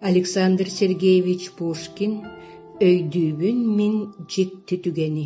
Александр Сергеевич Пушкин «Өйдүүбүн мин дьикти түгэни»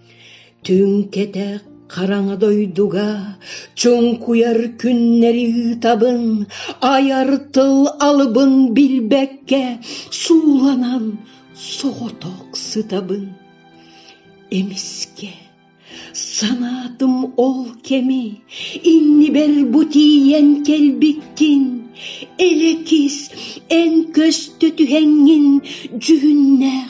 Түҥ кэтэх хараҥа дойдуга чуҥкуйар күннэри ыытабын, айар тыл алыбын билбэккэ сууланан соҕотох сытабын. Эмискэ санаатым ол кэми иннибэр бу тиийэн кэлбиккин, элэкис эн көстө түһэҥҥин дьүһүннээх